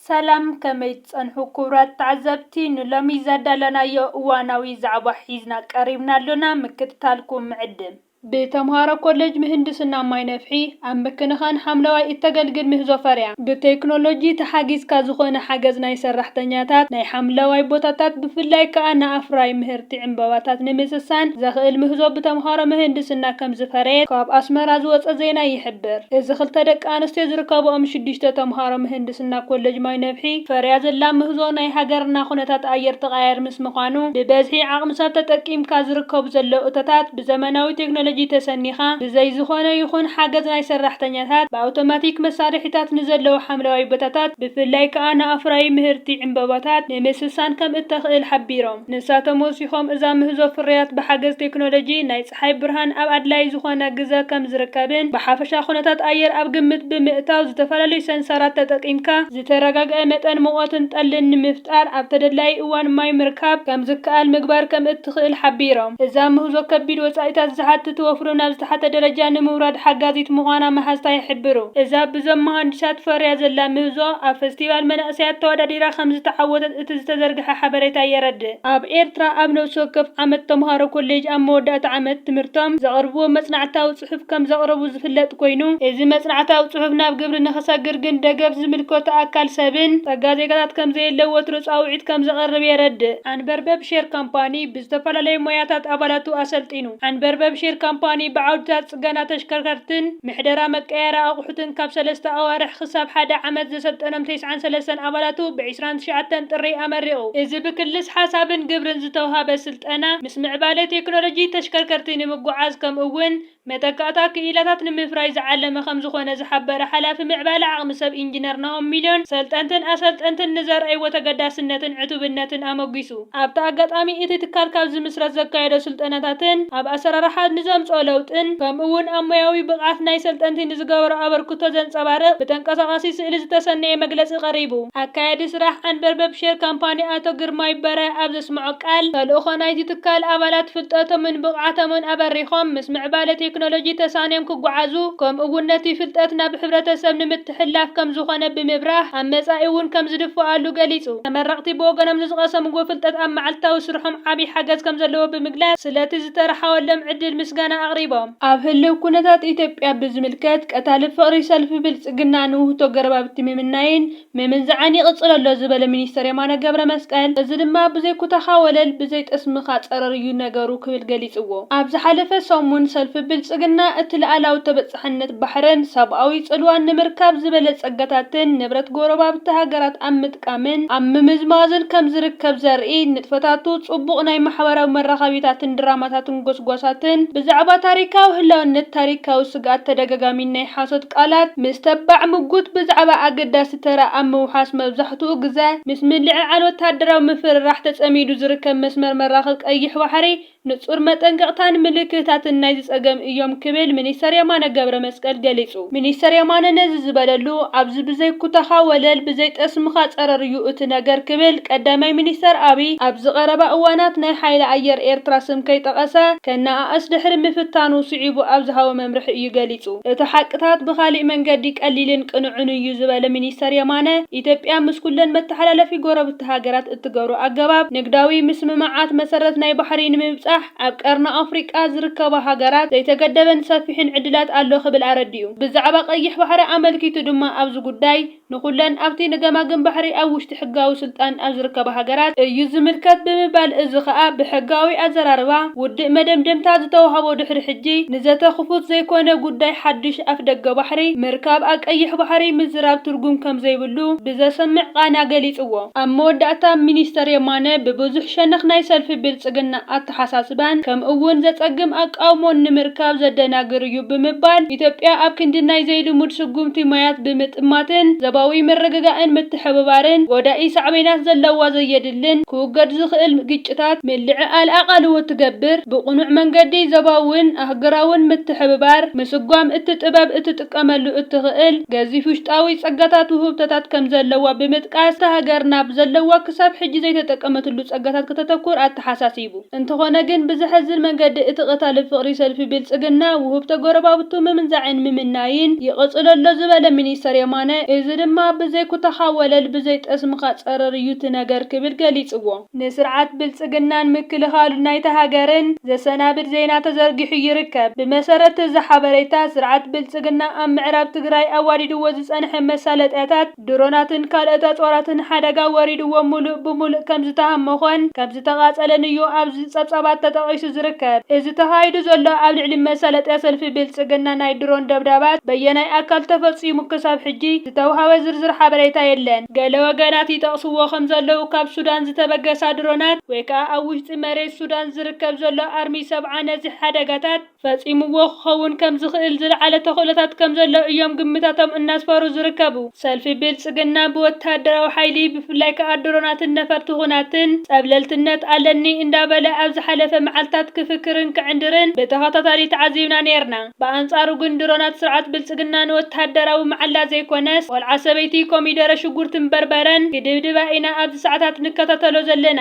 ሰላም ከመይ ትጸንሑ ኩቡራት ተዓዘብቲ ንሎሚ ዘዳለናዮ እዋናዊ ዛዕባ ሒዝና ቀሪብና ኣሎና ምክትታልኩም ንዕድም። ብተምሃሮ ኮለጅ ምህንድስና ማይ ነፍሒ ኣብ ምክንኻን ሓምለዋይ እተገልግል ምህዞ ፈርያ። ብቴክኖሎጂ ተሓጊዝካ ዝኾነ ሓገዝ ናይ ሰራሕተኛታት ናይ ሓምለዋይ ቦታታት ብፍላይ ከኣ ንኣፍራዪ ምህርቲ ዕምበባታት ንምስሳን ዘኽእል ምህዞ ብተምሃሮ ምህንድስና ከምዝፈረየት ካብ ኣስመራ ዝወጸ ዜና ይሕብር። እዚ ክልተ ደቂ ኣንስትዮ ዝርከበኦም ሽዱሽተ ተምሃሮ ምህንድስና ኮለጅ ማይ ነብሒ ፈርያ ዘላ ምህዞ ናይ ሃገርና ኩነታት ኣየር ተቐያያሪ ምስ ምዃኑ ብበዝሒ ዓቕሚ ሰብ ተጠቂምካ ዝርከቡ ዘለዉ እቶታት ብዘመናዊ ቴክኖሎጂ ተሰኒኻ ብዘይ ዝኾነ ይኹን ሓገዝ ናይ ሰራሕተኛታት ብኣውቶማቲክ መሳርሒታት ንዘለዉ ሓምለዋይ ቦታታት ብፍላይ ከኣ ንኣፍራዪ ምህርቲ ዕምበባታት ንምስሳን ከም እተኽእል ሓቢሮም። ንሳቶም ወሲኾም እዛ ምህዞ ፍርያት ብሓገዝ ቴክኖሎጂ ናይ ጸሓይ ብርሃን ኣብ ኣድላዪ ዝኾነ ግዘ ከም ዝርከብን ብሓፈሻ ኩነታት ኣየር ኣብ ግምት ብምእታው ዝተፈላለዩ ሰንሰራት ተጠቂምካ ዝተረጋግዐ መጠን ሙቐትን ጠልን ንምፍጣር ኣብ ተደላዪ እዋን ማይ ምርካብ ከም ዝከኣል ምግባር ከም እትኽእል ሓቢሮም። እዛ ምህዞ ከቢድ ወጻኢታት ዝሓትት ወፍሪ ናብ ዝተሓተ ደረጃ ንምውራድ ሓጋዚት ምዃና መሃዝታ ይሕብሩ። እዛ ብዞም መሃንዲሳት ፈርያ ዘላ ምህዞ ኣብ ፈስቲቫል መናእሰያት ተወዳዲራ ከም ዝተዓወተት እቲ ዝተዘርግሐ ሓበሬታ የረድእ። ኣብ ኤርትራ ኣብ ነብሲ ወከፍ ዓመት ተምሃሮ ኮሌጅ ኣብ መወዳእታ ዓመት ትምህርቶም ዘቕርብዎ መጽናዕታዊ ጽሑፍ ከም ዘቕረቡ ዝፍለጥ ኮይኑ፣ እዚ መጽናዕታዊ ጽሑፍ ናብ ግብሪ ንኽሰግር ግን ደገፍ ዝምልከቶ ኣካል ሰብን ጸጋ ዜጋታት ከም ዘየለ ወትሩ ጻውዒት ከም ዘቕርብ የረድእ። ዓንበርበብ ሼር ካምፓኒ ብዝተፈላለዩ ሞያታት ኣባላቱ ኣሰልጢኑ። ዓንበርበብ ሼር ካምፓኒ ብዓውድታት። ጽገና ተሽከርከርትን ምሕደራ መቀያየሪ ኣቑሑትን ካብ ሰለስተ ኣዋርሕ ክሳብ ሓደ ዓመት ዘሰልጠኖም ተስዓን ሰለስተን ኣባላቱ ብ ዕስራን ትሽዓተን ጥሪ ኣመሪቑ። እዚ ብክልስ ሓሳብን ግብርን ዝተውሃበ ስልጠና ምስ ምዕባለ ቴክኖሎጂ ተሽከርከርቲ ንምጉዓዝ ከምኡ እውን መተካእታ ክኢላታት ንምፍራይ ዝዓለመ ከምዝኾነ ዝሓበረ ሓላፊ ምዕባለ ዓቕሚ ሰብ ኢንጅነር ናሆም ሚልዮን ሰልጠንትን ኣሰልጠንትን ንዘርኣይዎ ተገዳስነትን ዕቱብነትን ኣሞጊሱ። ኣብቲ ኣጋጣሚ እቲ ትካል ካብ ዝምስረት ዘካየዶ ስልጠናታትን ኣብ ኣሰራርሓ ንዘምፅኦ ለውጥን ከምኡ እውን ኣብ ሞያዊ ብቕዓት ናይ ሰልጠንቲ ንዝገበሮ ኣበርክቶ ዘንፀባርቕ ብተንቀሳቓሲ ስእሊ ዝተሰነየ መግለፂ ቀሪቡ። ኣካያዲ ስራሕ ዓንበርበብ ሼር ካምፓኒ ኣቶ ግርማይ በራያ ኣብ ዘስመዖ ቃል፣ ተልእኾ ናይዚ ትካል ኣባላት ፍልጠቶምን ብቕዓቶምን ኣበሪኾም ምስ ምዕባለ ቴክኖሎጂ ተሳንዮም ክጓዓዙ ከምኡ እውን ነቲ ፍልጠት ናብ ሕብረተሰብ ንምትሕልላፍ ዝሕላፍ ከምዝኾነ ብምብራህ፣ ኣብ መጻኢ እውን ከምዝድፍኣሉ ገሊጹ። ተመረቕቲ ብወገኖም ንዝቐሰምዎ ፍልጠት ኣብ መዓልታዊ ስርሖም ዓቢ ሓገዝ ከምዘለዎ ብምግላጽ፣ ስለቲ ዝተርሓወሎም ዕድል ምስጋና ኣቕሪቦም። ኣብ ህልው ኩነታት ኢትዮጵያ ብዝምልከት፣ ቀታሊ ፍቕሪ ሰልፊ ብልጽግና ንውህቶ ገረባብቲ ምምናይን ምምንዛዕን ይቕጽሎ ኣሎ ዝበለ ሚኒስተር የማነ ገብረመስቀል፣ እዚ ድማ ብዘይ ኩታኻ ወለል ብዘይ ጠስምኻ ጸረር እዩ ነገሩ ክብል ገሊጽዎ። ኣብ ዝሓለፈ ሰሙን፣ ሰልፊ ብልጽግና እቲ ልኣላዊ ተበ። ጥሕነት ባሕርን ሰብኣዊ ጽልዋን ንምርካብ ዝበለ ጸጋታትን ንብረት ጎረባብቲ ሃገራት ኣብ ምጥቃምን ኣብ ምምዝማዝን ከም ዝርከብ ዘርኢ ንጥፈታቱ ጽቡቕ ናይ ማሕበራዊ መራኸቢታትን ድራማታትን ጎስጓሳትን ብዛዕባ ታሪካዊ ህላውነት ታሪካዊ ስግኣት ተደጋጋሚን ናይ ሓሶት ቃላት ምስ ተባዕ ምጉት ብዛዕባ ኣገዳሲ ተራ ኣብ ምውሓስ መብዛሕትኡ ግዘ ምስ ምልዕዓል ወተሃደራዊ ምፍርራሕ ተጸሚዱ ዝርከብ መስመር መራኽብ ቀይሕ ባሕሪ ንጹር መጠንቀቕታን ምልክታትን ናይዚ ጸገም እዮም ክብል ሚኒስተር የማነ ገብረመስቀል ገሊጹ። ሚኒስተር የማነ ነዚ ዝበለሉ፣ ኣብዚ ብዘይ ኩታኻ ወለል ብዘይ ጠስምኻ ጸረር እዩ እቲ ነገር ክብል ቀዳማይ ሚኒስተር ኣብይ ኣብዚ ቀረባ እዋናት ናይ ሓይሊ ኣየር ኤርትራ ስም ከይጠቐሰ ከነኣእስ ድሕሪ ምፍታኑ ስዒቡ ኣብ ዝሃቦ መምርሒ እዩ ገሊጹ። እቲ ሓቅታት ብኻሊእ መንገዲ ቀሊልን ቅኑዕን እዩ ዝበለ ሚኒስተር የማነ፣ ኢትዮጵያ ምስ ኩለን መተሓላለፊ ጎረብቲ ሃገራት እትገብሮ ኣገባብ ንግዳዊ ምስምማዓት መሰረት ናይ ባሕሪ ንምብጻሕ ኣብ ቀርኒ ኣፍሪቃ ዝርከባ ሃገራት ዘይተገደበን ሰፊሕን ዕድላት ኣሎ ክብል ኣረዲኡ። ብዛዕባ ቀይሕ ባሕሪ ኣመልኪቱ ድማ ኣብዚ ጉዳይ ንኹለን ኣብቲ ንገማግም ባሕሪ ኣብ ውሽጢ ሕጋዊ ስልጣን ኣብ ዝርከባ ሃገራት እዩ ዝምልከት ብምባል እዚ ከኣ ብሕጋዊ ኣዘራርባ ውድእ መደምደምታ ዝተዋህቦ ድሕሪ ሕጂ ንዘተ ክፉት ዘይኮነ ጉዳይ ሓድሽ ኣፍደገ ባሕሪ ምርካብ ኣብ ቀይሕ ባሕሪ ምዝራብ ትርጉም ከምዘይብሉ ክብሉ ብዘሰምዕ ቃና ገሊጽዎ። ኣብ መወዳእታ ሚኒስተር የማነ ብብዙሕ ሸነኽ ናይ ሰልፊ ብልጽግና ኣተሓሳስባን ከምኡ'ውን ዘጸግም ኣቃውሞን ንምርካብ ዘደናግር እዩ ብምባል ኢትዮጵያ ኣብ ክንዲ ናይ ዘይልሙድ ስጉምቲ ማያት ብምጥማትን ዘባዊ ምርግጋእን ምትሕብባርን ጎዳኢ ሳዕቤናት ዘለዋ ዘየድልን ክውገድ ዝኽእል ግጭታት ምልዕዓል ኣቓልቦ ትገብር። ብቕኑዕ መንገዲ ዘባውን ኣህግራውን ምትሕብባር ምስጓም እቲ ጥበብ እቲ ክትጥቀመሉ እትኽእል ገዚፍ ውሽጣዊ ጸጋታት ውህብቶታት ከም ዘለዋ ብምጥቃስ፣ እታ ሃገር ናብ ዘለዋ ክሳብ ሕጂ ዘይተጠቀመትሉ ጸጋታት ከተተኩር ኣተሓሳሲቡ። እንተኾነ ግን ብዘሕዝን መንገዲ እቲ ቀታሊ ፍቕሪ ሰልፊ ብልጽግና፣ ውህብቶ ጎረባብቱ ምምንዛዕን ምምናይን ይቕጽሎ ኣሎ ዝበለ ሚኒስተር የማነ፣ እዚ ድማ ብዘይ ኩታኻ ወለል ብዘይ ጠስምኻ ጸረር እዩ እቲ ነገር ክብል ገሊጽዎ። ንስርዓት ብልጽግናን ምክልኻሉ ናይታ ሃገርን ዘሰናብድ ዜና ተዘርጊሑ ይርከብ። ብመሰረት እዚ ሓበሬታ፣ ስርዓት ብልጽግና ኣብ ምዕራብ ትግራይ ኣዋዲድዎ ዝጸንሐ መሳለጥያታት፣ ድሮናትን ካልኦት ኣጽዋራትን ሓደጋ ወሪድዎ ሙሉእ ብሙሉእ ከምዝተሃሞኾን ከምዝተቓጸለን'ዩ ኣብዚ ጸብጻባት ተጠቒሱ ዝርከብ። እዚ ተኻይዱ ዘሎ ኣብ ልዕሊ መሳለጥያ ሰልፊ ብልጽግና ናይ ድሮን ደብዳባት በየናይ ኣካል ተፈጺሙ ክሳብ ሕጂ ዝተውሃበ ዝርዝር ሓበሬታ የለን። ገለ ወገናት ይጠቕስዎ ከም ዘለዉ ካብ ሱዳን ዝተበገሳ ድሮናት ወይ ከኣ ኣብ ውሽጢ መሬት ሱዳን ዝርከብ ዘሎ ኣርሚ ሰብዓ ነዚ ሓደጋታት ፈጺምዎ ክኸውን ከም ዝኽእል ዝለዓለ ተኽእሎታት ከም ዘሎ እዮም ግምታቶም እናስፈሩ ዝርከቡ። ሰልፊ ብልጽግና ብወተሃደራዊ ሓይሊ ብፍላይ ከኣ ድሮናትን ነፈርቲ ኵናትን ጸብለልትነት ኣለኒ እንዳበለ ኣብ ዝሓለፈ መዓልታት ክፍክርን ክዕንድርን ብተኸታታሊ ተዓዚብና ኔርና። ብኣንጻሩ ግን ድሮናት ስርዓት ብልጽግና ንወተሃደራዊ መዓላ ዘይኮነስ ቆልዓ ሰበይቲ ኮሚደረ ሽጉርትን በርበረን ክድብድባ ኢና ኣብዚ ሰዓታት ንከታተሎ ዘለና።